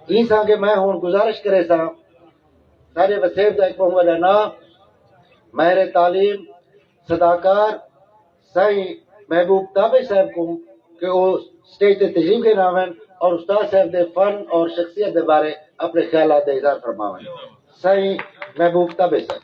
ہیساں کہ میں ہن گزارش کریساں ساڈے وسیب دا ہک بہوں وڈا ناں ماہر تعلیم صداکار سائیں محبوب تابع صاحب کو کہ او سٹیج تے تشریف گھن آون اور استاد صاحب دے فن اور شخصیت دے بارے اپنے خیالات دا اظہار فرماون سائیں محبوب تابع صاحب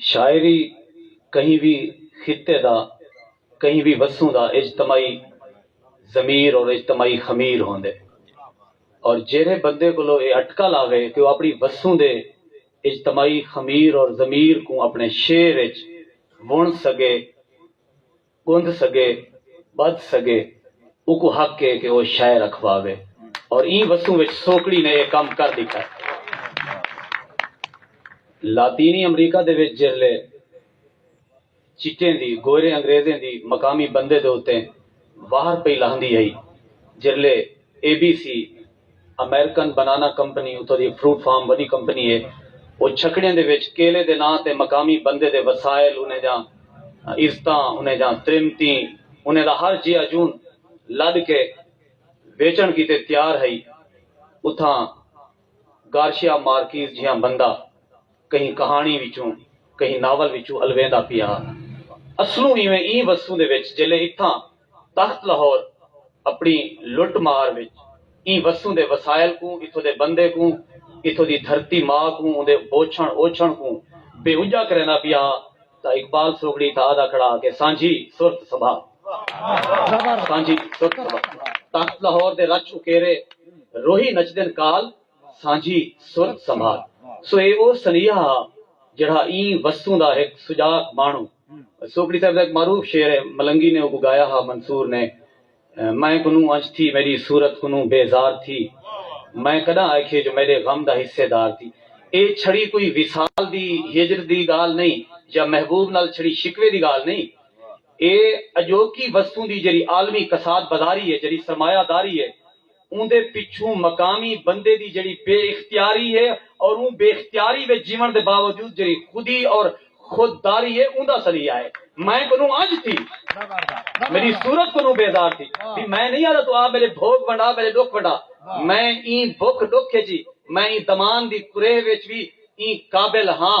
شاعری کہیں وی خطے دا، کہیں وی وسوں دا اجتماعی ضمیر اور اجتماعی خمیر ہوندے اور جیرھے بندے کولو اے اٹکل آوے کہ او اپنی وسوں دے اجتماعی خمیر اور ضمیر کوں اپنے شعر اچ وݨ سڳے گندھ سگے، بدھ سگے، اوکوں حق اے کہ او شئے رکھواوے اور ایں وسوں وچ سوکڑی نے اے کم کر ڈیکھائے۔ لاطینی امریکہ دے وچ جیرھلے چٹیں دی گوئرے انگریزیں دی مقامی بندے دے اتے واہر پئی لاہندی ہئی جیرھلے A B C, American banana company اتھاں دی فروٹ فارم وݙی کمپنی ہے۔ او چھکڑیں دے وچ کیلے دے ناں تے مقامی بندے دے وسائل انہیں دیاں عزتاں انہیں دیاں تریمتیں انہیں دا ہر جیہا جون لݙ کے ویچݨ کیتے تیار ہئی۔ اتھاں گارشیا مارکیز جیہاں بندہ۔ کہیں کہاݨی وچوں کہیں ناول وچوں الویندا پیا ہا۔ اصلوں ایویں ایں وسوں دے وچ جیلھے اتھاں تخت لاہور اپݨی لٹ مار وچ ایں وسوں دے وسائل کوں اتھوں دے بندے کوں اتھوں دی دھرتی ماء کوں اوندے بوچھݨ اوچھݨ کوں بے اجا کریندا پیا ہا تاں اقبال سوگڑی تاں آہدا کھڑا ہا کہ سانجھی سرت سبھا سانجھی سرت سبھا تخت لاہور دے رچ اکیرے روہی نچدن کال سانجھی سرت سنبھال سو اے او سنیہا ہا جیڑھا ایں وستوں دا ہک سجاک ماݨو سوکڑی صاحب دا ہک معروف شعر ہے ملنگی نے اوکوں گایا ہا منصور نے میں کنوں انج تھی میݙی صورت کنوں بے زار تھی میں کݙاں آکھیے جو میݙے غم دا حصے دار تھی اے چھڑی کوئی وصال دی ہجر دی ڳالھ نئیں یا محبوب نال چھڑی شکوے دی ڳالھ نئیں اے اڄوکی وستوں دی جیڑھی عالمی کساد بازاری ہے جیڑھی سرمایہ داری ہے اوندے پچھوں مقامی بندے دی جیڑھی بے اختیاری ہے اور اوں بے اختیاری وچ جیوݨ دے باوجود جیڑھی خودی اور خود داری ہے اوندا سلیہ ہے۔ میں کنوں انج تھی میݙی صورت کنوں بیزار تھی وی میں نئیں آہدا توں آ میݙے بھوڳ ونڈا میݙے ݙکھ ونڈا میں ایں بکھ ݙکھ وچ وی میں ایں دمان دی کریہ وچ وی ایں قابل ہاں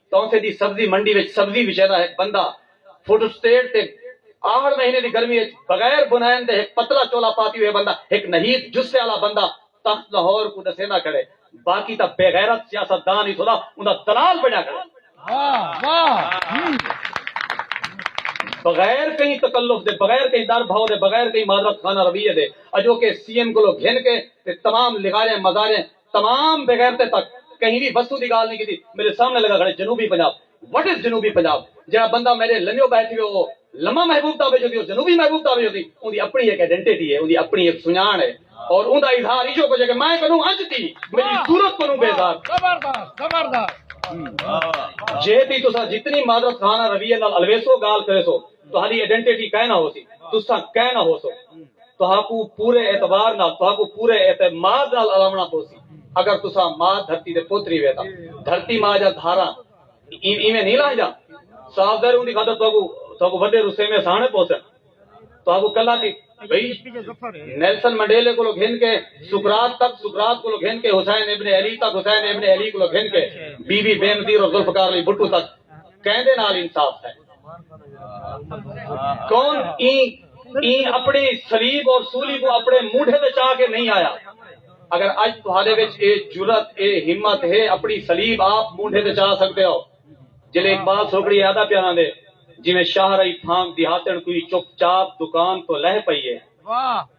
تاں اتھے دی سبزی منڈی وچ سبزی وچے دا ہک بندہ فوٹوسٹیٹ تے آہڑ مہینے دی گرمی وچ بغیر بنائن دے ہک پتلا چولا پاتی ہوئے بندہ ہک نحیف جثے آلا بندہ تخت لاہور کوں ڈسیندا کھڑے باقی تاں بے غیرت سیاست دان اتھوں دا اوندا دلال بنیا کھڑے۔ بغیر کہیں تکلف دے بغیر کہیں ڈر بھاؤ دے بغیر کہیں معذرت خانہ رویے دے اجوکے سی ایم کولوں گھن کے تے تمام لغاریں مزاریں تمام بغیرتیں تک کہیں وی وسوں دی گالھ نی کیتی میڈے سامنے لگا کھڑے جنوبی پنجاب وٹ از جنوبی پنجاب جیڑا بندہ میڈے لمیو بہہ تھیوے او لمہ محبوب تابش ہوسی او جنوبی محبوب تابش ہوسی اوندی اپنڑی ہک ایڈنٹیٹی ہے اوندی اپنڑی ہک سنجانڑ ہے اور اوندا اظہار ایجھو کجھ ہے کہ میں کنوں اج دی میڈی صورت کنوں بیزار جے دی تساں جتنی معذرت خانہ رویے نال الویسو گالھ کریسو تہاڈی ایڈنٹیٹی کائناں ہوسی تساں کائناں ہوسو۔ تہاکوں پورے اعتبار نال، تہاکوں پورے اعتماد نال الاوݨا پوسی اگر تساں ماء دھرتی دے پت ریہوے تاں دھرتی ماء جاں دھاراں ایویں نھیں لہنجاں۔ صاف ظاہر اوندی خاطر تہاکوں تہاکوں وݙے رسیمے سہݨے پوسن۔ تہاکوں کلھا تھی بھئی نیلسن منڈیلے کولوں گھن کے سقراط تک، سقراط کولوں گھن کے حسین ابن علی تک، حسین ابن علی کولوں گھن کے بی بی بینظیر اور ذوالفقار علی بھٹو تک کیندے نال انصاف تھئے۔ کون این اپنے سلیب اور سولی کو اپنے موڈھے میں چاہ کے نہیں آیا اگر اج تہارے وچ اے جرت اے ہمت ہے اپنی سلیب آپ موڈھے تے چاہ سکتے ہو جلے اقبال سوکڑی یادہ پیانا دے جی میں شاہ رئی پھانگ دیہاتن کوئی چپ چاپ دکان تو لہ پئیے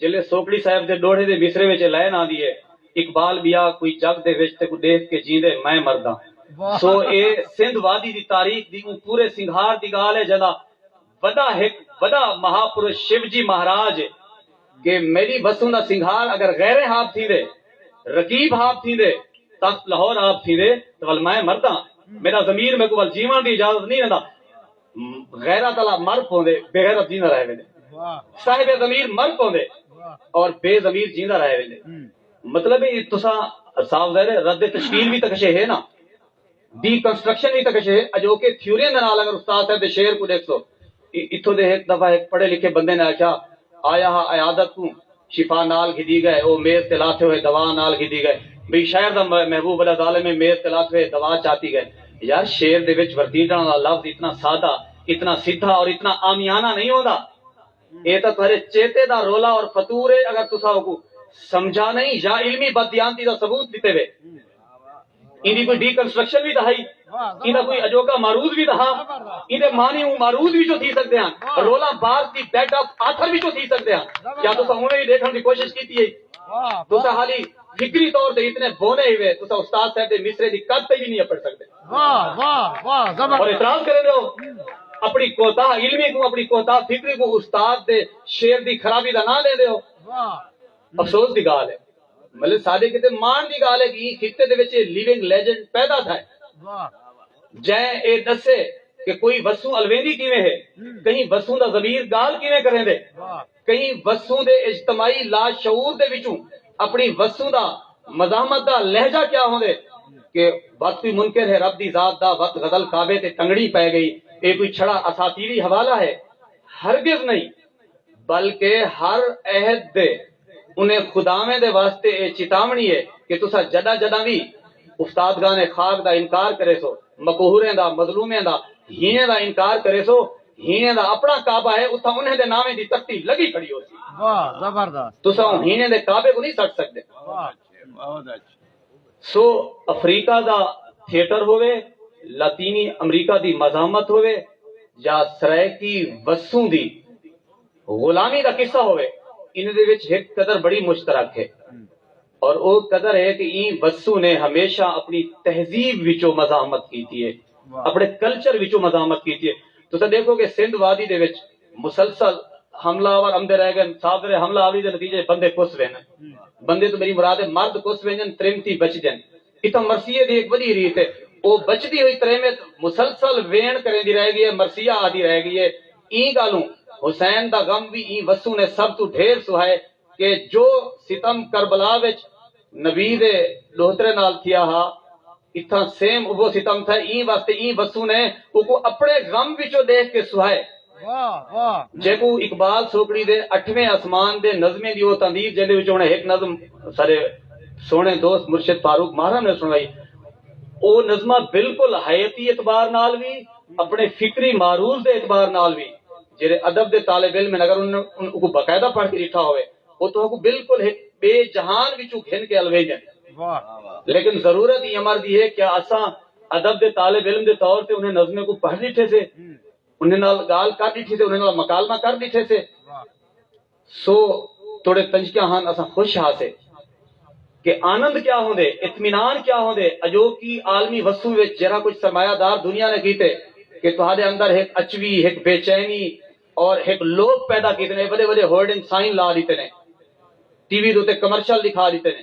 جیلھے سوکڑی صاحب دے ݙوہڑے دے مصرعے وچ اے لائن آندی ہے اقبال ٻیا کوئی جڳ دے وچ تیکوں ݙیکھ کے جیندے میں مرداں سو اے سندھ وادی دی تاریخ دی اوں پورے سنگھار دی ڳالھ ہے جیندا وݙا ہک وݙا مہا پرش شیو جی مہاراج ہے۔ کہ میݙی وسوں دا سنگھار اگر غیریں ہاب تھیندے رقیب ہاب تھیندے تخت لاہور آب تھیندے تاں ول میں مرداں میݙا ضمیر میکوں ول جیوݨ دی اجازت نئیں ݙیندا۔ غیرت آلا مر پوندے بغیرت جیندا رہ ویندے صاحب ضمیر مر پوندے اور بے ضمیر جیندا رہ ویندے مطلب ہے تساں صاف ظاہر ہے رد تشکیل وی تکشے ہے نا ڈی کنسٹرکشن وی تکشے ہے اجوکے تھیوریاں دے نال اگر استاد صاحب دے شعر کوں ڈیکھسو اتھوں دے ہک دفعہ ہک پڑھے لکھے بندے نے آکھیا آیا ہا عیادت کوں شفا نال گھدی گئے او میز تے لاتھے ہوئے دوا نال گھدی گئے بھئی شہر دا محبوب وݙا ظالم ہے میز تے لاتھے ہوئے دوا چاتی گئے یار شعر دے وچ ورتیٹݨ آلا لفظ اتنا سادہ اتنا سدھا اور اتنا عامیانہ نہیں ہوندا اے تاں تہاݙے چیتے دا رولا اور فتور ہے اگر تساں اوکوں سمجھا نہیں یا علمی بددیانتی دا ثبوت ݙتے وے ایندی کوئی ڈی کنسٹرکشن وی تاں ہئی ایندا کوئی اجوکا معروض وی تاں ہا ایندے معنی اوں معروض وچوں تھی سکدے ہن Roland Barthes the death of author وچوں تھی سکدے ہن کیا تساں اونویں وی ڈیکھن دی کوشش کیتی ہئی تساں حالی فکری طور تے اتنے بونے ہوئے تساں استاد صاحب دے مصرے دی قد تے وی نہیں اپڑ سکدے اور اعتراض کریں دے ہو اپنی کوتاہ علمی کو اپنی کوتاہ فکری کو استاد دے شعر دی خرابی دا نہ لیں دے ہو افسوس دی گال ہے بلے ساڈے کیتے ماݨ دی گالھ ہے کہ ایں خطے دے وچ اے لیونگ لیجنڈ پیدا تھئے جئیں اے ڈسے کہ کوئی وسوں الویندی کیویں ہے، کہیں وسوں دا ضمیر گالھ کیویں کریندے، کہیں وسوں دے اجتماعی لاشعور دے وچوں اپݨی وسوں دا مزاحمت دا لہجہ کیا ہوندے۔ کہ وت کوئی منکر ہے رب دی ذات دا وت غزل کعبے تے ٹنگڑی پئے گئی اے کوئی چھڑا اساطیری حوالہ ہے؟ ہرگز نئیں۔ بلکہ ہر عہد دے انہیں خداویں دے واسطے ایہ چتاوݨی ہے کہ تساں جݙاں جݙاں وی استادگان خاک دا انکار کریسو، مقہوریں دا، مظلومیں دا، ہیݨیں دا انکار کریسو، ہیݨیں دا اپݨا کعبہ ہے، اتھاں انہیں دے ناویں دی تختی لڳی کھڑی ہوسی۔ تساں اوں ہیݨیں دے کعبے کوں نھیں سٹ سڳدے۔ سو افریقہ دا تھیٹر ہووے، لاطینی امریکہ دی مزاحمت ہووے یا سرائیکی وسوں دی غلامی دا قصہ ہووے انہیں دے وچ ہک قدر بڑی مشترک ہے اور او قدر ہے کہ ایں وسوں نے ہمیشہ اپنی تہذیب وچوں مزاحمت کیتی ہے اپنے کلچر وچوں مزاحمت کیتی ہے تساں ڈیکھو کہ سندھ وادی دے وچ مسلسل حملہ آور امدے رہ گن صادر حملہ آوری دے نتیجہ اچ بندے کس ویندن بندے توں میڈی مراد ہے مرد کس ویندن تریمتی بچدن اتھاں مرثیے دی ہک وڈی ریت ہے او بچدی ہوئی تریمت مسلسل ویݨ کریندی رہ گئی ہے مرثیہ آہدی رہ گئی ہے ایں گالوں حسین دا غم وی ایں وسوں نے سب توں ڈھیر سہائے کہ جو ستم کربلا وچ نبی دے ݙوہترے نال تھیا ہا اتھاں سیم اوہو ستم تھئے ایں واسطے ایں وسوں نے اوکوں اپݨے غم وچوں ݙیکھ کے سہائے جیکوں اقبال سوکڑی دے اٹھویں آسمان دے نظمیں دی او تندیر جیندے وچوں انہیں ہک نظم ساݙے سوہݨے دوست مرشد فاروق ماہرہ نے سݨوائی او نظمہ بالکل حیاتی اعتبار نال وی اپݨے فکری معروض دے اعتبار نال وی جیرھے ادب دے طالب علم ہن اگر انہاں اوکوں باقاعدہ پڑھ کے ڈٹھا ہووے او تہاں کوں بالکل ہک بے جہان وچوں گھن کے الویندن لیکن ضرورت ایں امر دی ہے کیا اساں ادب دے طالب علم دے طور تے انہیں نظمیں کوں پڑھ ڈٹھے سے انہیں نال گالھ کر ڈٹھی سے انہیں نال مکالمہ کر ڈٹھے سے سو توڑے پنجکیاں ہن اساں خوش ہاسے کہ آنند کیا ہوندے، اطمینان کیا ہوندے اجوکی عالمی وسوں وچ جیرھا کجھ سرمایہ دار دنیا نے کیتے کہ تہاڈے اندر ہک اچوی، ہک بے چینی اور ہک لوبھ پیدا کیتے نے وڈے وڈے ہورڈنگ سائن لا ڈیتے نے، ٹی وی دے اتے کمرشل ڈکھا ڈیتے نے۔